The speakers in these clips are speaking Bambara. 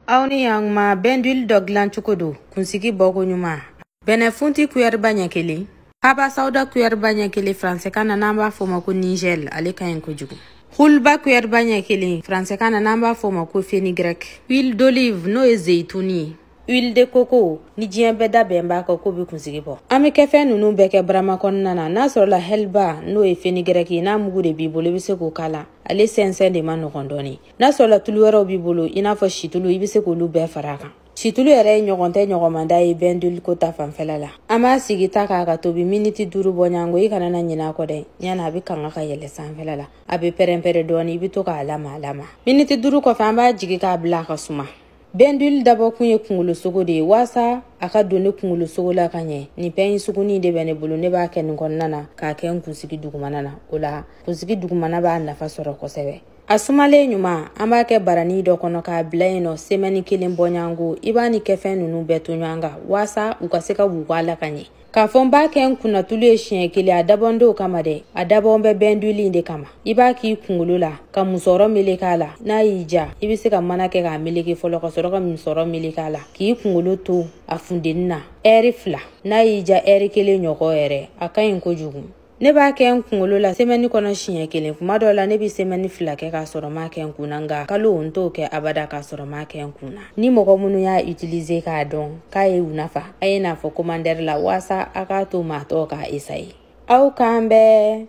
aw ni yankuma bain d'huile dɔ dilan cogo don kunsigi bɔko ɲuman bɛnɛ funti kuyɛriba ɲɛ kelen haba sawuda kuyɛriba ɲɛ kelen faransɛkan na n'an b'a fɔ ma ko nigɛl ale ka ɲi kojugu hulba kuyɛriba ɲɛ kelen faransɛkan na n'an b'a fɔ ma ko fenigrɛk huile d'olive n'o ye zeyituni ye huile de coco ni diɲɛ bɛɛ da bɛn b'a kan k'o bɛ kunsigi bɔ an bɛ kɛ fɛn ninnu bɛɛ kɛ barama kɔnɔna na n'a sɔrɔla hɛliba n'o ye fenigɛrɛki ye n'a mugu de b'i bolo i bɛ se k'o k'a la ale sɛnsɛn de ma nɔgɔn dɔɔnin n'a sɔrɔla tulu wɛrɛw b'i bolo i n'a fɔ situlu i bɛ se k'olu bɛɛ fara a kan situlu yɛrɛ ye ɲɔgɔn tɛ ɲɔgɔnmanda ye bain d'huile ko ta fanfɛla la an b'a sigi ta kan a ka tobi miniti duuru bɔɲango i kana na ɲinɛ a kɔ dɛ ɲana a bɛ kanga ka yɛlɛ sanfɛla la a bɛ pɛrɛnpɛrɛ dɔɔni i bɛ to k'a lamaga lamaga miniti duuru kɔfɛ an b'a jigi k'a bila a ka suma bain d'huile dabɔkun ye kungolosogo de ye waasa a ka don ne kungolosogo la ka ɲɛ nin pɛɲi sugunin de bɛ ne bolo ne b'a kɛ nin kɔnɔna na k'a kɛ n kunsigi dugumana na o la kunsigi dugumana b'a nafa sɔrɔ kosɛbɛ a sumalen ɲuman an b'a kɛ barani dɔ kɔnɔ k'a bila yen nɔ semɛni kelen bɔɲango i b'a ni kɛfɛn nunu bɛɛ to ɲɔgɔn kan waasa u ka se ka wugu a la ka ɲɛ k'a fɔ n b'a kɛ n kunna tulu ye siɲɛ kelen a dabɔn t'o kama dɛ a dabɔn bɛ bain d'huile in de kama i b'a k'i kungolo la ka musɔrɔ meleke a la n'a y'i ja i be se ka mana kɛ k'a meleke fɔlɔ ka sɔrɔ ka musɔrɔ meleke a la k'i kungolo to a funteni na ɛri fila n'a y'i ja ɛri kelen ɲɔgɔn yɛrɛ a ka ɲi kojugu ne b'a kɛ n kunkolo la semɛni kɔnɔ siɲɛ kelen kuma dɔ la ne be semɛni fila kɛ k'a sɔrɔ m'a kɛ n kun na nka kalo n t'o kɛ abada k'a sɔrɔ m'a kɛ n kun na ni mɔgɔ minnu y'a utilize k'a dɔn k'a ye u nafa a ye n'a fɔ komantɛri la waasa a k'a to maa tɔw k'a esaye aw k'an bɛn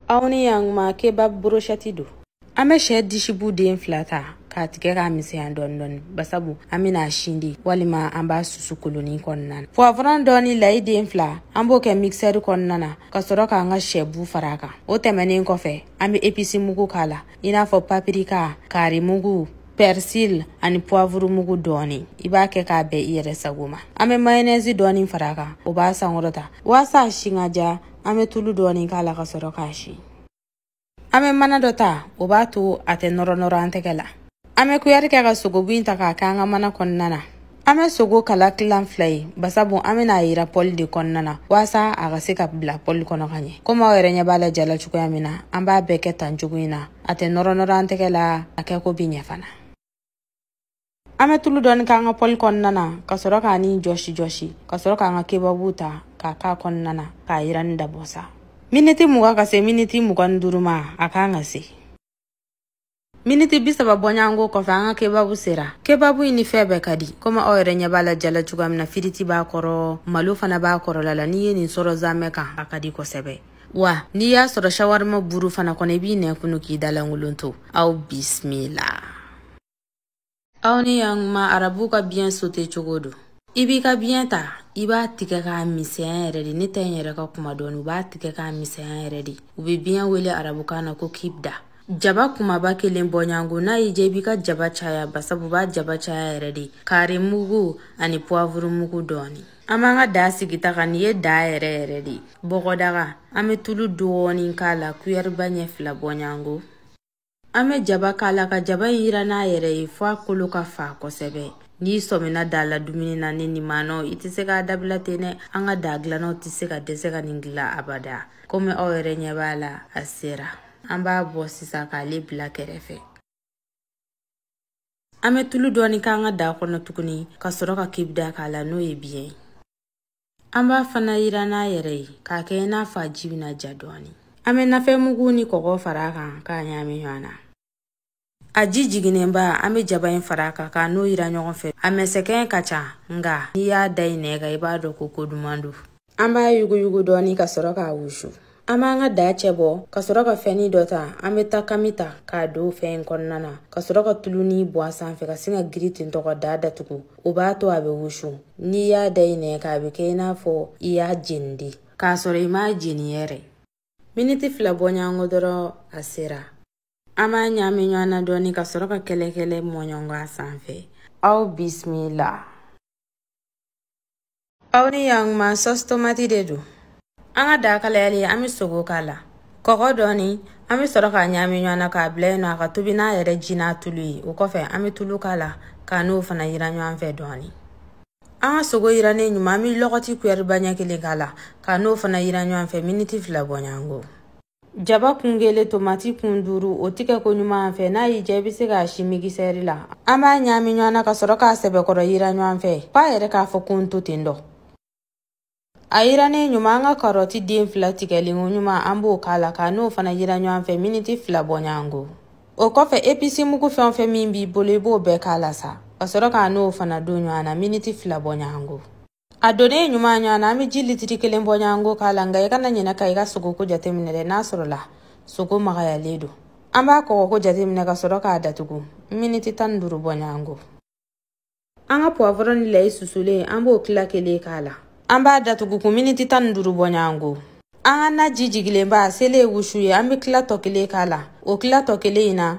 aw ni yankuma kebab broshɛti don an bɛ sɛ disibu den fila ta k'a tigɛ k'a misɛnya dɔɔni dɔɔni basabu an bɛn'a si de walima an b'a susu kolonin kɔnɔna na puwavurɔn dɔɔni layi den fila an b'o kɛ mikisɛri kɔnɔna na ka sɔrɔ k'an ka sɛbu fara a kan o tɛmɛnen kɔfɛ an bɛ episi mugu k'a la i n'a fɔ papirika kari mugu persil ani puwavuru mugu dɔɔni i b'a kɛ k'a bɛn i yɛrɛ sago ma an bɛ mayonɛzi dɔɔni fara a kan o b'a sankɔrɔta waasa a si ka ja an bɛ tulu dɔɔni k'a la ka sɔrɔ k'a si an bɛ mana dɔ ta o b'a to a tɛ nɔrɔ nɔrɔ an tɛgɛ la an bɛ kuyari kɛ ka sogobu in ta k'a kɛ an ka mana kɔnɔna na an bɛ sogo kala tilan fila ye basabu an bɛna a yiran pɔli de kɔnɔna na waasa a ka se ka bila pɔli kɔnɔ ka ɲɛ komi aw yɛrɛ ɲɛ b'a la ja la cogoya min na an b'a bɛɛ kɛ tan cogo in na a tɛ nɔrɔ nɔrɔ an tɛgɛ la a kɛko bi ɲɛ fana an bɛ tulu dɔɔni k'an ka pɔli kɔnɔna na ka sɔrɔ k'a ni jɔsi jɔsi ka sɔrɔ k'an ka kebabu ta k'a k'a kɔnɔna na k'a yiranni dabɔ sa miniti mugan ka se miniti mugan ni duuru ma a kan ka se miniti bi saba bɔɲango kɔfɛ an ka kebabu sera kebabu in ni fɛn bɛɛ ka di komi aw yɛrɛ ɲɛ b'a la ja la cogoya min na firiti b'a kɔrɔ malo fana b'a kɔrɔla la n'i ye nin sɔrɔ zamɛ kan a ka di kosɛbɛ wa n'i y'a sɔrɔ shawarima buru fana kɔnɔ i b'i nɛn kunu k'i dalankolon to aw bisimila aw ni yankuma arabu ka biyɛn sote cogo don i b'i ka biyɛn ta i b'a tigɛ k'a misɛnya yɛrɛ de ne ta in yɛrɛ ka kuma dɔɔni u b'a tigɛ k'a misɛnya yɛrɛ de u be biyɛn wele arabukan na ko kibda jaba kumaba kelen bɔ ɲɔgɔn ko n'a y'i diya i b'i ka jaba caya basabu b'a jaba caya yɛrɛ de kari mugu ani puwavuru mugu dɔɔni an b'an ka daa sigi ta kan nin ye daa yɛrɛ yɛrɛ de ye bɔgɔdaga an bɛ tulu dɔɔnin k'a la kuyɛriba ɲɛ fila bɔ ɲɔgɔn ko an bɛ jaba k'a la ka jaba in yiran n'a yɛrɛ ye fɔ a kolo ka fa kosɛbɛ n'i sɔmina daa la dumuni na ni nin maanɔ i tɛ se k'a dabila ten dɛ an ka daa dilannaw tɛ se ka dɛsɛ ka nin dilan abada komi aw yɛrɛ ɲɛ b'a la a sera an b'a bɔ sisan k'ale bila kɛrɛfɛ an bɛ tulu dɔɔni k'an ka daa kɔnɔ tuguni ka sɔrɔ ka kibda k'a la n'o ye biyɛn ye an b'a fana yiran n'a yɛrɛ ye k'a kɛ i n'a fɔ a ji bɛna ja dɔɔni an bɛ nafɛnmugu ni kɔgɔ fara a kan k'a ɲaami ɲɔgɔn na a ji jiginnenba an bɛ jaba in fara a kan k'a n'o yiran ɲɔgɔn fɛ a mɛsɛkɛn ka ca nka n'i y'a da i nɛn kan i b'a dɔn ko ko duman don an b'a yuguyugu dɔɔni ka sɔrɔ k'a wusu an b'an ka daa cɛ bɔ ka sɔrɔ ka fɛnni dɔ ta an bɛ takami ta k'a don fɛn in kɔnɔna na ka sɔrɔ ka tuluni bɔn a sanfɛ ka sin ka giri ten tɔgɔ daa datugu o b'a to a bɛ wusu n'i y'a da i nɛn kan a bɛ kɛ i n'a fɔ i y'a jeni de k'a sɔrɔ i m'a jeni yɛrɛ miniti fila bɔ ɲɔgɔn ko dɔrɔn a sera an b'a ɲaami ɲɔgɔn na dɔɔni ka sɔrɔ ka kɛlɛkɛlɛ mɔɲɔnkɔ a sanfɛ aw bisimila aw ni ɲakuma sɔs tomati de don an ka daa kalayalen an be sogo k'a la kɔgɔ dɔɔni an be sɔrɔ k'a ɲaami ɲɔgɔn na k'a bila yen nɔ a ka tobi n'a yɛrɛ ji n'a tulu ye o kɔfɛ an be tulu k'a la k'a n'o fana yiran ɲɔgɔn fɛ dɔɔni an ka sogo yirannen ɲuman an be lɔgɔti kuyɛriba ɲɛ kelen k'a la k'a n'o fana yiran ɲɔgɔn fɛ miniti fila bɔ ɲɔgɔn ko Jaba kun kelen tomati kun duuru o tigɛ ko ɲuman fɛ n'a y'i diya i bɛ se k'a si migisɛri la an b'a ɲaami ɲɔgɔn na ka sɔrɔ k'a sɛbɛkɔrɔ yiran ɲɔgɔn fɛ f'a yɛrɛ k'a fɔ ko n to ten dɔ a yirannen ɲuman an ka karɔti den fila tigɛlen ko ɲuman an b'o k'a la k'a n'o fana yiran ɲɔgɔn fɛ miniti fila bɔ ɲɔgɔn ko o kɔfɛ episi mugu fɛn o fɛn min b'i bolo i b'o bɛɛ k'a la sa ka sɔrɔ k'a n'o fana don ɲɔgɔn na miniti fila bɔ ɲɔgɔn ko a donnen ɲuman ɲɔgɔn na an bɛ ji litiri kelen bɔ ɲɔgɔn ko k'a la nka i kana ɲinɛ ka i ka sogoko jateminɛ dɛ n'a sɔrɔla sogo magayalen don an b'a kɔgɔko jateminɛ ka sɔrɔ k'a datugu miniti tan ni duuru bɔ ɲɔgɔn ko an ka puwavɔrɔ ni layi susulen an b'o tila kelen k'a la an b'a datugu tugun miniti tan ni duuru bɔ ɲɔgɔn ko an ka na ji jigilenba sele wusu ye an bɛ tila tɔ kelen k'a la o tila tɔ kelen in na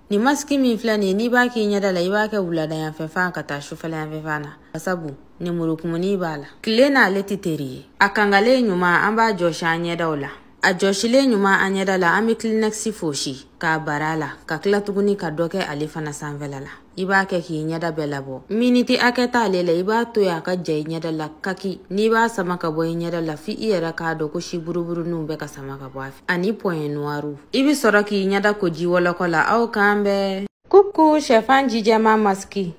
nin masiki min filɛ nin ye n'i b'a k'i ɲɛda la i b'a kɛ wuladayanfɛ fan ka taa sufɛlayanfɛ fan na sabu nemurukumuni b'a la tile n'ale tɛ teri ye a kangalen ɲuman an b'a jɔsi an ɲɛdaw la a jɔsilen ɲuman an ɲɛda la an bɛ kilinɛkisi fosi k'a bar'a la ka tila tuguni ka dɔ kɛ ale fana sanfɛla la i b'a kɛ k'i ɲɛda bɛɛ labɔ miniti hakɛ t'ale la i b'a to yen a ka ja i ɲɛda la kaki n'i b'a sama ka bɔ i ɲɛda la f'i yɛrɛ k'a dɔn ko si buruburuninw bɛ ka sama ka bɔ a fɛ ani puwɛn nuwariw i bɛ sɔrɔ k'i ɲɛda ko ji wɔlɔkɔ la aw k'an bɛn kuku shɛfan ji jɛman masiki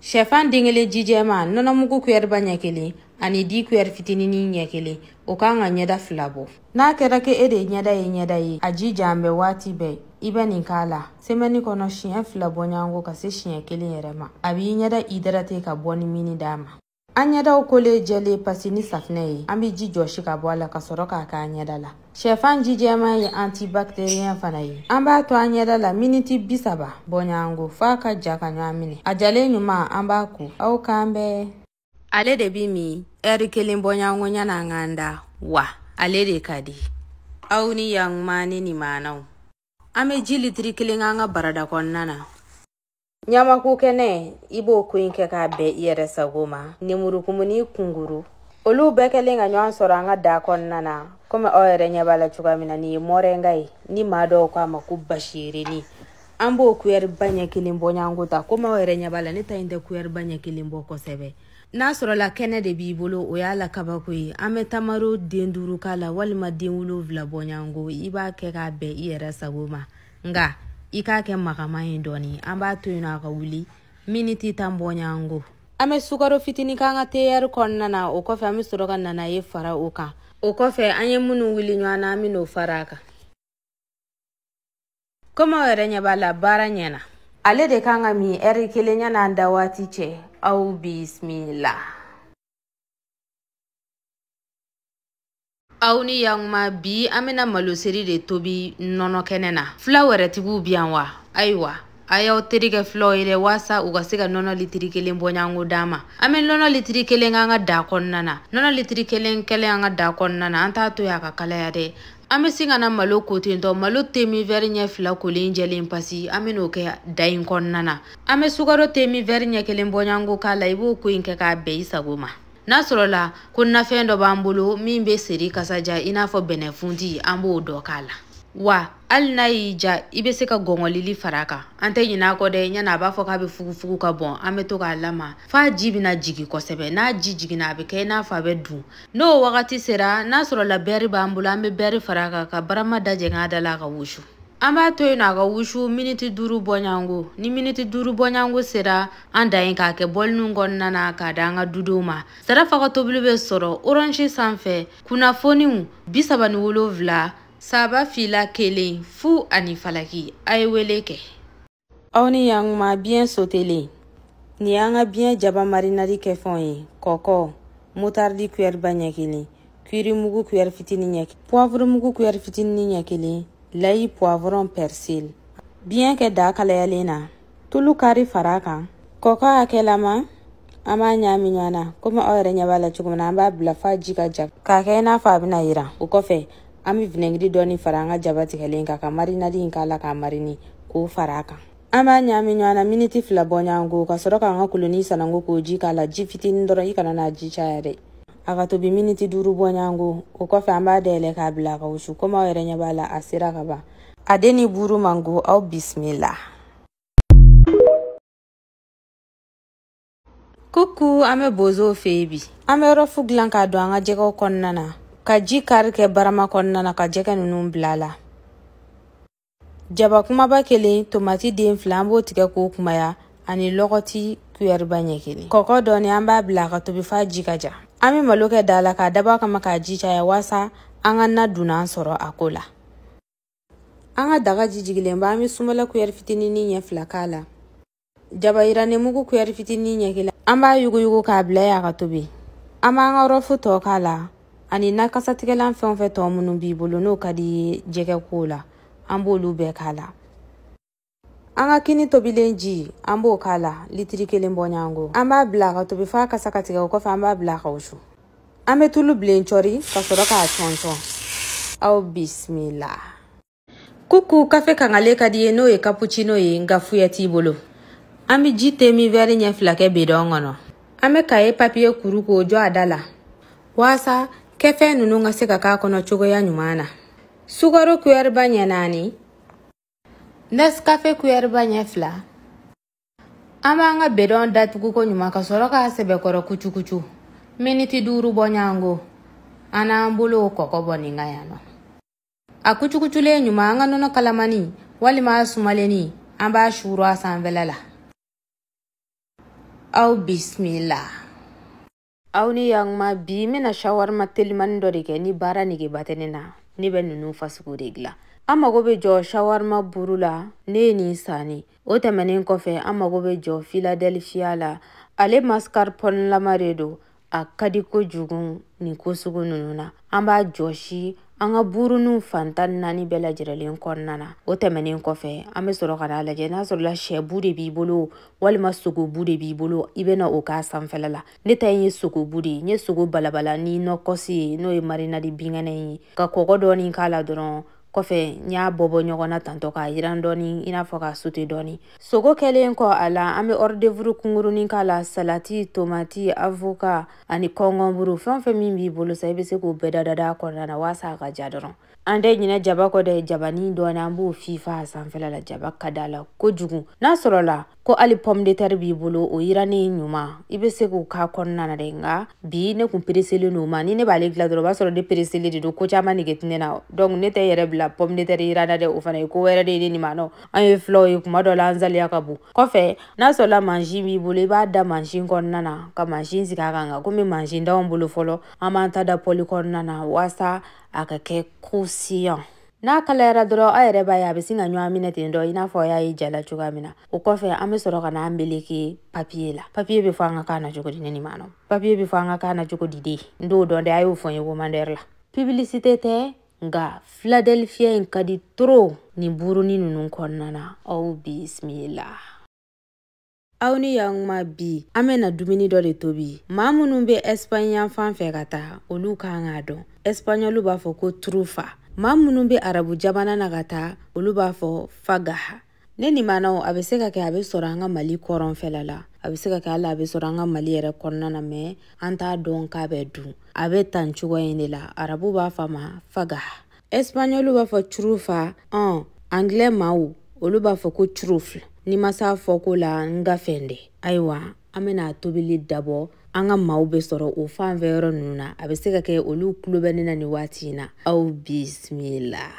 shɛfan den kelen ji jɛman nɔnɔmugu kuyɛriba ɲɛ kelen ani di kuyɛri fitinini ɲɛ kelen o kan ka ɲɛda fila bɔ n'a kɛra ke e de ɲɛda ye ɲɛda ye a ji jan bɛ waati bɛɛ i bɛ nin k'a la semɛni kɔnɔ siɲɛ fila bɔɲɔgɔnko ka se siɲɛ kelen yɛrɛ ma a b'i ɲɛda idarate ka bɔni mini d'a ma an ɲɛdaw kolen jɛlen pasi ni safinɛ ye an bɛ ji jɔsi ka bɔ a la ka sɔrɔ k'a k'an ɲɛda la Sɛfan ji jɛman ye antibacterien fana ye. An b'a to an ɲɛda la miniti bi saba bɔɲɔgɔnko f'a ka ja ka ɲɔgɔn minɛ. A jalen ɲuman an b'a ko. Aw k'an bɛn. Ale de bi min ɛri kelen bɔɲɔgɔnko ɲan'an k'an da wa ale de ka di. Aw ni yankuma ni maanaw. An bɛ ji litiri kelen k'an ka barada kɔnɔna na. ɲamaku kɛnɛ i b'o ko in kɛ k'a bɛn i yɛrɛ sago ma nemurukumuni kunguru olu bɛɛ kɛlen ka ɲɔgɔn sɔrɔ an ka daa kɔnɔna na komi aw yɛrɛ ɲɛ b'a la cogoya min na nin ye mɔrɛnga ye ni maa dɔw k'a ma ko basiyirinin an b'o kuyɛriba ɲɛ kelen bɔ ɲɔgɔnko ta komi aw yɛrɛ ɲɛ b'a la ne ta in tɛ kuyɛriba ɲɛ kelen bɔ kosɛbɛ n'a sɔrɔla kɛnɛ de b'i bolo o y'a la kabako ye an bɛ tamaro den duuru k'a la walima den wolonwula bɔ ɲɔgɔnko i b'a kɛ k'a bɛn i yɛrɛ sago ma nka i k'a kɛ magama ye dɔɔni an b'a to yen nɔ a ka wuli miniti tan bɔɲɔgɔnko an bɛ sukaro fitini k'an ka teyɛri kɔnɔna na o kɔfɛ an bɛ sɔrɔ ka nanaye fara o kan o kɔfɛ an ye minnu wuli ɲɔgɔn na an bɛn'o fara a kan komi aw yɛrɛ ɲɛ b'a la baara ɲɛna ale de kan ka min ɛri kelen yan'an da waati cɛ aw bisimila aw ni yankuma bi an bɛna maloseri de tobi nɔnɔ kɛnɛ na fila wɛrɛtigiw bi yan wa ayiwa a y'aw teri kɛ filaw ye dɛ waasa u ka se ka nɔnɔ litiri kelen bɔɲɔgɔnko d'a ma an bɛ nɔnɔ litiri kelen k'an ka daa kɔnɔna na nɔnɔ litiri kelen kɛlen an ka daa kɔnɔna na an t'a to yen a ka kalaya dɛ an bɛ sin ka na malo ko ten tɔ malo temin vɛri ɲɛ fila kolen jɛlen pasi an bɛ n'o kɛ daa in kɔnɔna na an bɛ sukaro temin vɛri ɲɛ kelen bɔɲɔgɔnko k'a la i b'o ko in kɛ k'a bɛn i sago ma n'a sɔrɔla ko nafɛn dɔ b'an bolo min bɛ seri kasa ja i n'a fɔ bɛnɛfunti an b'o dɔ k'a la wa hali n'a y'i ja i bɛ se ka gɔngɔlili fara a kan an tɛ ɲinɛ a kɔ dɛ ɲana a b'a fɔ k'a bɛ fugufugu ka bɔn an bɛ to k'a lama f'a ji bɛna jigin kosɛbɛ n'a ji jiginna a bɛ kɛ i n'a fɔ a bɛ dun n'o wagati sera n'a sɔrɔla bɛri b'an bolo an bɛ bɛri fara a kan ka barama dajɛ k'a da la a ka wusu an b'a to yen nɔ a ka wusu miniti duuru bɔ ɲɔgɔn ko ni miniti duuru bɔ ɲɔgɔn ko sera an dan ye k'a kɛ bɔliniw kɔnɔna na k'a d'an ka dudenw ma sarafa ka tobili bɛ sɔrɔ orange sanfɛ kunnafoniw bi saba ni wolonwula saba fila kelen fu ani falaki a ye wele kɛ aw ni yankuma biɲɛ sotelen nin y'an ka biɲɛ jaba marinadi kɛfɛnw ye kɔkɔ motaridi kuyɛri ba ɲɛ kelen kuiri mugu kuyɛri fitini ɲɛ puwavuru mugu kuyɛri fitini ɲɛ kelen layi puwavurɔn pɛrisili biɲɛ kɛ daa kalayalen na tulu kari fara a kan kɔkɔ hakɛlama an b'a ɲaami ɲɔgɔn na komi aw yɛrɛ ɲɛ b'a la cogo min na an b'a bila f'a ji ka ja k'a kɛ i n'a fɔ a bɛna yiran o kɔfɛ an bɛ vinɛgiri dɔɔni fara an ka jaba tigɛlen kan ka marinadi in k'a la k'a marini k'o fara a kan an b'a ɲaami ɲɔgɔn na miniti fila bɔ ɲɔgɔn ko ka sɔrɔ k'an ka kolonin sananko k'o ji k'a la ji fitinin dɔrɔn i kana n'a ji caya dɛ a ka tobi miniti duuru bɔ ɲɔgɔn ko o kɔfɛ an b'a dayɛlɛ k'a bila a ka wusu komi aw yɛrɛ ɲɛ b'a la a sera ka ban a de ni buuru man go aw bisimila kuku an bɛ bozow fɛ yen bi an bɛ rɔfu dilan k'a don an ka jɛgɛw kɔnɔna na ka ji kari kɛ barama kɔnɔna na ka jɛgɛ ninnu bila a la jaba kumaba kelen tomati den fila an b'o tigɛ k'o kumaya ani lɔgɔti kuyɛriba ɲɛ kelen kɔkɔ dɔɔni an b'a bila ka tobi f'a ji ka ja an be malo kɛ daa la k'a dabɔ kama k'a ji caya waasa an ka na dunan sɔrɔ a ko la an ka daga ji jigilen ba an be sumala kuyɛri fitinini ɲɛ fila k'a la jaba yirannen mugu kuyɛri fitinin ɲɛ kelen an b'a yuguyugu k'a bila y'a ka tobi an b'an ka rɔfu tɔ k'a la ani na kasatigɛlan fɛn o fɛn tɔ minnu b'i bolo n'o ka di i ye jɛgɛ ko la an b'olu bɛɛ k'a la an ka kini tobilen ji an b'o k'a la litiri kelen bɔ ɲɔgɔn ko an b'a bila ka tobi f'a kasa ka tigɛ o kɔfɛ an b'a bila ka wusu an bɛ tulu bilen cɔri ka sɔrɔ k'a cɔncɔn aw bisimila kuku kafe kangalen ka di i ye n'o ye kapucino ye nka fuya t'i bolo an be ji te min vɛri ɲɛ fila kɛ bidɔn kɔnɔ an be kaye papiye kuru k'o jɔ a da la waasa kɛfɛn nunu ka se ka k'a kɔnɔ cogoya ɲuman na sukaro kuyɛriba ɲɛ naani nɛskafe kuyɛriba ɲɛ fila an b'an ka bidɔn datugu koɲuman ka sɔrɔ k'a sɛbɛkɔrɔ kucukucu miniti duuru bɔ ɲɔgɔn ko an n'an bolow kɔkɔ bɔ nin ka yan nɔ a kucukuculen ɲuman an ka nɔnɔ kalamani walima a sumalenni an b'a suuru a sanfɛla la aw bisimila aw ni yanguma bi n bɛna shawarima telimani dɔ de kɛ ni baara negeba tɛ ne na ne bɛ ninnu fasugu de dilan an mago bɛ jɔ shawarima buru la ne ye nin sanni o tɛmɛnen kɔfɛ an mago bɛ jɔ filadelfiya la ale mascarpone lama de don a ka di kojugu nin ko sugu ninnu na an b'a jɔsi an ka buuruninw fan tan naani bɛɛ lajɛrɛlen kɔnɔna na o tɛmɛnen kɔfɛ an bɛ sɔrɔ ka n'a lajɛ n'a sɔrɔla shɛbu de b'i bolo walima sogobu de b'i bolo i bɛna o k'a sanfɛla la ne ta ye sogobu de ye n ye sogo balabala ni nɔkɔsi ye n'o ye marinadi binkɛnɛ ye ka kɔgɔ dɔɔni k'a la dɔrɔn kɔfɛ n y'a bɔbɔ ɲɔgɔn na tantɔ k'a yiran dɔɔni i n'a fɔ k'a sute dɔɔni sogo kɛlen kɔ a la an be ɔridevuru kungurunin k'a la salati tomati avoka ani kɔngɔnburu fɛn fɛn min b'i bolo sa i be se k'o bɛɛ dadada a kɔnɔna na waasa a ka diya dɔrɔn an tɛ ɲinɛ jaba kɔ dɛ jabani dɔɔni an b'o fifa a sanfɛla la jaba ka d'a la kojugu n'a sɔrɔla ko hali pomme de terre b'i bolo o yirani ɲuman i bɛ se k'o k'a kɔnɔna na dɛ nka bi ne kun pereselen don ma ni ne b'ale dilan dɔrɔn o b'a sɔrɔ ne pereselen de don ko caman nege tɛ ne na donc ne tɛ yɛrɛ bila pomme de terre yiran na dɛ o fana ye ko wɛrɛ de ye ne nimanaw an ye filaw ye kuma dɔ la an saliya ka bon kɔfɛ n'a sɔrɔla mansin b'i bolo i b'a da mansin kɔnɔna na ka mansin sigi a kan nka komi mansin t'anw bolo fɔlɔ an b'an ta da pɔli kɔnɔna na waasa a ka kɛ croustillant N'a kalayara dɔrɔn aw yɛrɛ b'a ye a bɛ sin ka ɲɔgɔn minɛ ten dɔ i n'a fɔ y'a ye jala cogoya min na o kɔfɛ an bɛ sɔrɔ ka n'a meleke papiye la papiye bɛ fɔ an ka kan na cogo di ne nimanaw papiye bɛ fɔ an ka kan na cogo di de n t'o dɔn dɛ a y'o fɔ n ye komandɛri la pibilisite tɛ nka filadelifiyɛ in ka di trop nin burunin ninnu kɔnɔna na aw bisimila aw ni yanguma bi an bɛna dumuni dɔ de tobi maa minnu bɛ ɛsipaɲi yanfan fɛ ka taa olu kan k'a dɔn ɛsipaɲɔlu b'a fɔ ko turufa maa minnu bɛ arabu jamana na ka taa olu b'a fɔ fagaha ne nimanaw a bɛ se ka kɛ a bɛ sɔrɔ an ka mali kɔrɔnfɛla la a bɛ se ka kɛ hali a bɛ sɔrɔ an ka mali yɛrɛ kɔnɔna na mɛ an t'a dɔn k'a bɛ dun a bɛ tan cogoya in de la arabu b'a fɔ a ma fagaha ɛsipaɲɔliw b'a fɔ turufa ɔn angilɛ maaw olu b'a fɔ ko turufl n'i ma s'a fɔko la n ka fɛn dɛ ayiwa an bɛna a tobili dabɔ an ka maaw bɛ sɔrɔ o fan fɛ yɔrɔ ninnu na a bɛ se ka kɛ olu tulo bɛ ne na nin waati in na aw bisimila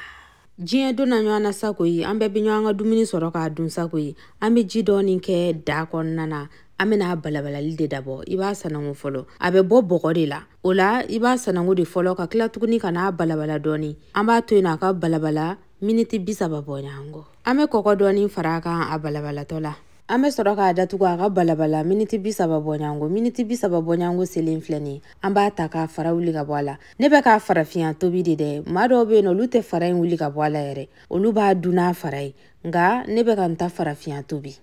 diɲɛ donna ɲɔgɔn na sa koyi an bɛɛ bɛ ɲɔgɔn ka dumuni sɔrɔ k'a dun sa koyi an bɛ ji dɔɔni kɛ daa kɔnɔna na an bɛna balabalali de dabɔ i b'a sanango fɔlɔ a bɛ bɔ bɔgɔ de la o la i b'a sanango de fɔlɔ ka tila tuguni ka n'a balabala dɔɔni an b'a to yen a ka balabala miniti bi saba bɔɲango an bɛ kɔkɔ dɔɔni fara a kan a balabalatɔ la an bɛ sɔrɔ k'a datugu a ka balabala miniti bi saba bɔɲango miniti bi saba bɔɲango selen filɛ nin an b'a ta k'a fara wuli ka bɔ a la ne bɛ k'a farafinya tobi de dɛ maa dɔw bɛ yen nɔ olu tɛ fara in wuli ka bɔ a la yɛrɛ olu b'a dun n'a fara ye nka ne bɛ ka n ta farafinya tobi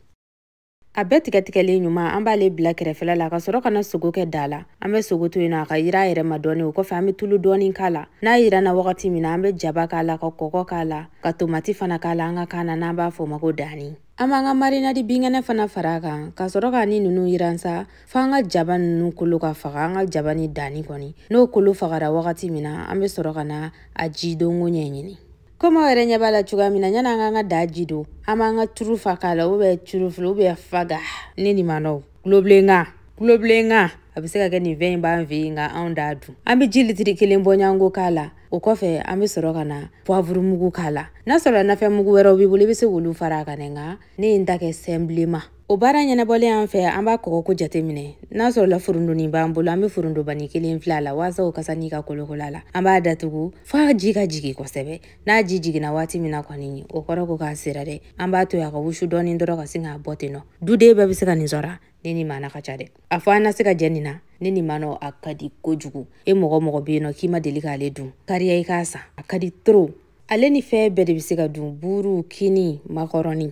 a bɛɛ tigɛtigɛlen ɲuman an b'ale bila kɛrɛfɛla la ka sɔrɔ ka na sogo kɛ daa la an bɛ sogo to yen nɔ a ka yiran a yɛrɛ ma dɔɔni o kɔfɛ an bɛ tulu dɔɔni k'a la n'a yiranna wagati min na an bɛ jaba k'a la ka kɔkɔ k'a la ka tomati fana k'a la an ka kan na n'an b'a fɔ o ma ko daani an b'an ka marinadi binkɛnɛ fana fara a kan ka sɔrɔ k'a ni ninnu yiran sa fo an ka jaba ninnu kolo ka faga an ka jaba ni daani kɔni n'o kolo fagara wagati min na an bɛ sɔrɔ ka na a ji donko ɲɛɲini komi aw yɛrɛ ɲɛ b'a la cogoya min na yan'an k'an ka daa ji don an b'an ka turufa k'a la ubiyɛn turufili ubiyɛn faga ne nin manɔw kulobilenkan kulobilenkan a bɛ se ka kɛ nin fɛn in b'an fɛ yen nka anw t'a dun an bɛ ji litiri kelen bɔɲanko k'a la o kɔfɛ an bɛ sɔrɔ ka na puwavuru mugu k'a la n'a sɔrɔ nafɛn mugu wɛrɛw b'i bolo i bɛ se k'olu fara a kan dɛ nka ne ye n ta kɛ sɛnpileman O baara ɲɛnabɔlen an fɛ an b'a kɔgɔko jateminɛ n'a sɔrɔla forontonin b'an bolo an bɛ forontobanin kelen fil'a la waasa o kasa nin ka kolokola la an b'a datugu f'a ji ka jigin kosɛbɛ n'a ji jiginna waati min na kɔni o kɔrɔ ko k'a sera dɛ an b'a to a ka wusu dɔɔni dɔrɔn ka sin k'a bɔ ten nɔ duden bɛɛ bɛ se ka nin sɔrɔ ne ni maana ka ca dɛ a fɔ an na se ka jɛ nin na ne ni manɔ a ka di kojugu e mɔgɔ mɔgɔ bɛ yen nɔ k'i ma deli k'ale dun kariya i k'a san a ka di toro ale ni fɛn bɛɛ de bɛ se ka dun buuru kini makɔrɔni